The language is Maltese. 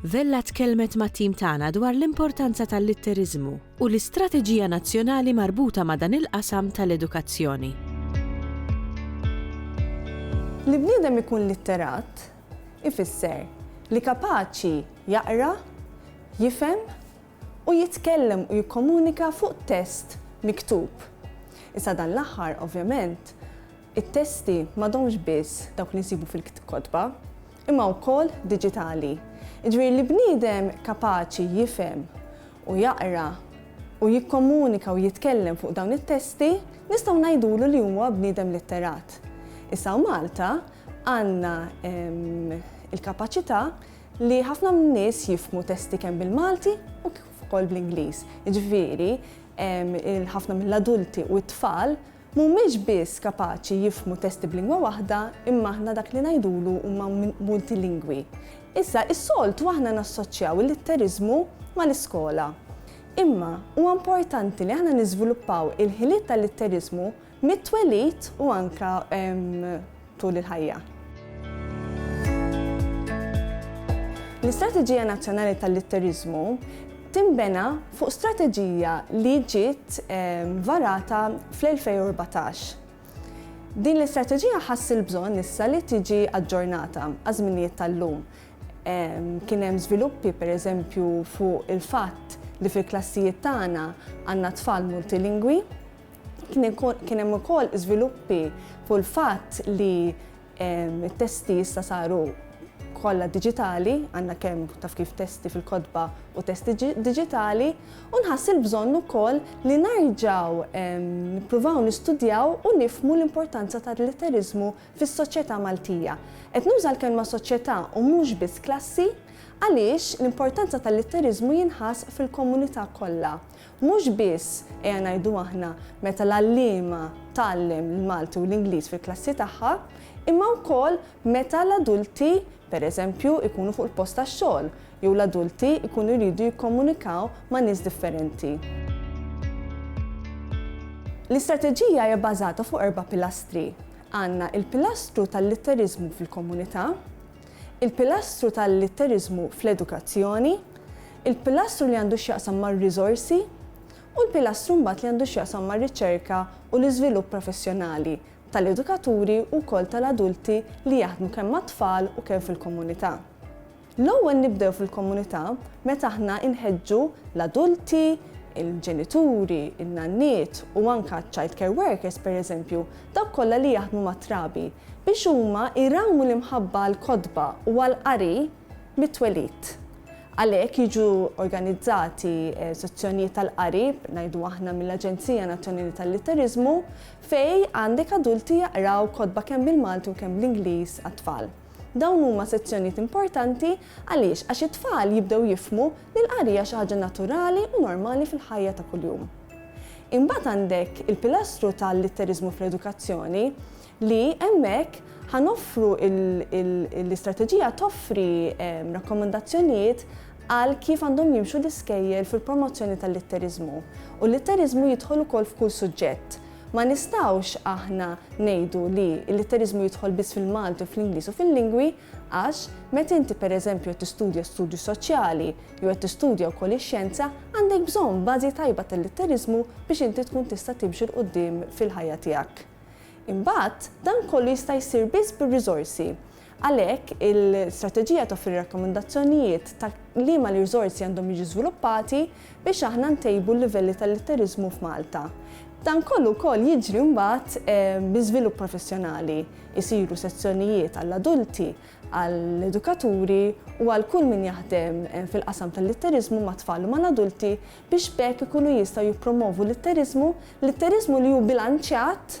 Vella tkellmet mat-tim tagħna dwar l-importanza tal-litteriżmu u l-istrateġija nazzjonali marbuta ma' dan il-qasam tal-edukazzjoni. Li bniedem ikun litterat ifisser li kapaċi jaqra, jifhem u jitkellem u jikkomunika fuq test miktub. Issa dan l-aħħar, ovvjament, it-testi m'għadhomx biss dawk li nsibu fil-kotba, imma wkoll diġitali, jiġifieri li bniedem kapaċi jifhem u jaqra u jikkomunika u jitkellem fuq dawn it-testi nistgħu ngħidulu li huwa bniedem litterat. Issa hawn Malta għandna l-kapaċità li ħafna min-nies jifhmu testi kemm bil-Malti u kif ukoll bl-Ingliż, jiġifieri ħafna mill-adulti u t-tfal Mhumiex biss kapaċi jifhmu testi b'lingwa waħda imma aħna dak li ngħidulu huma multilingwi. Issa, is-soltu aħna nassoċċjaw il-litteriżmu mal-iskola. Imma, huwa importanti li aħna niżviluppaw il-ħiliet tal-litteriżmu mit-twelid u anke tul il-ħajja. L-Istrateġija Nazzjonali tal-Litteriżmu tinbena fuq strateġija li ġiet ehm, varata fl-2014. Din l-istrateġija ħass il-bżonn issa li tiġi aġġornata għaż-żminijiet tal-lum. Ehm, kien hemm żviluppi pereżempju fuq il-fatt li fil-klassijiet tagħna għandna tfal multilingwi, Kien hemm ukoll żviluppi fuq il-fatt li t-testi issa saru kollha diġitali, għandna kemm taf kif testi fil-kotba u testi diġitali, u nħass il-bżonn ukoll li nerġgħu nippruvaw nistudjaw u nifhmu l-importanza tal-litteriżmu fis-soċjetà Maltija. Qed nuża l-kelma soċjetà u mhux biss klassi għaliex l-importanza tal-litteriżmu jinħass fil-komunità kollha Mhux biss, ejja ngħidu aħna, meta l-għalliema tgħallem l-Malti u l-Ingliż fil-klassi tagħha, imma wkoll meta l-adulti, per eżempju, ikunu fuq il-post tax-xogħol jew l-adulti jkunu jridu jikkomunikaw ma' nies differenti. L-istrateġija hija bbażata fuq erba' pilastri. Għandna l-pilastru tal-litteriżmu fil-komunità, il-pilastru tal-litteriżmu fl-edukazzjoni, il-pilastru li għandu x'jaqsam mar-riżorsi u l-pilastru mbagħad li għandu x'jaqsam mar-riċerka u l-iżvilupp professjonali tal-edukaturi u wkoll tal-adulti li jaħdmu kemm mat-tfal u kemm fil-komunità. L-ewwel nibdew fil-komunità meta aħna nħeġġu l-adulti, il-ġenituri, in-nanniet u anke ċ-child care workers pereżempju Dawk kollha li jaħdmu mat-trabi, biex huma jrawmu l-imħabba għall-kotba u għall-qari mit-twelid. Għalhekk jiġu organizzati sezzjonijiet tal-qari, ngħidu aħna mill-Aġenzija Nazzjonali tal-Litteriżmu, fejn għandek adulti jaqraw kotba kemm bil-Malti u kemm bl-Ingliż għat-tfal. Dawn huma sezzjonijiet importanti għaliex għax it-tfal jibdew jifhmu li l-qari hija xi ħaġa naturali u normali fil-ħajja ta' kuljum. Imbagħad għandek il-pilastru tal-litteriżmu fl-edukazzjoni li hemmhekk ħa noffru l-istrateġija toffri ehm, rakkomandazzjonijiet għal kif għandhom jimxu l-iskejjel fil-promozzjoni tal-litteriżmu. U l-litteriżmu jidħol ukoll f'kull suġġett. Ma nistawx aħna ngħidu li l-litteriżmu jidħol biss fil-Malti u fl-Ingliż u fil-lingwi Għax, meta inti pereżempju qed tistudja studju soċjali, jew qed tistudja wkoll ix-xjenza, għandek bżonn bażi tajba tal-litteriżmu biex inti tkun tista' timxi 'l quddiem fil-ħajja tiegħek. Imbagħad, dan kollu jista' jsir biss bir-riżorsi. Għalhekk, il-strateġija toffri rakkomandazzjonijiet ta' liema l-riżorsi għandhom jiġu żviluppati, biex aħna ntejbu l-livelli tal-litteriżmu f'Malta. Dan kollu wkoll jiġri mbagħad bi żvilupp professjonali, isiru sezzjonijiet għall-adulti, għall-edukaturi u għal kull min jaħdem fil-qasam tal-litteriżmu mat-tfal u mal-adulti biex b'hekk ikunu jistgħu jippromovu litteriżmu, litteriżmu li hu bilanċjat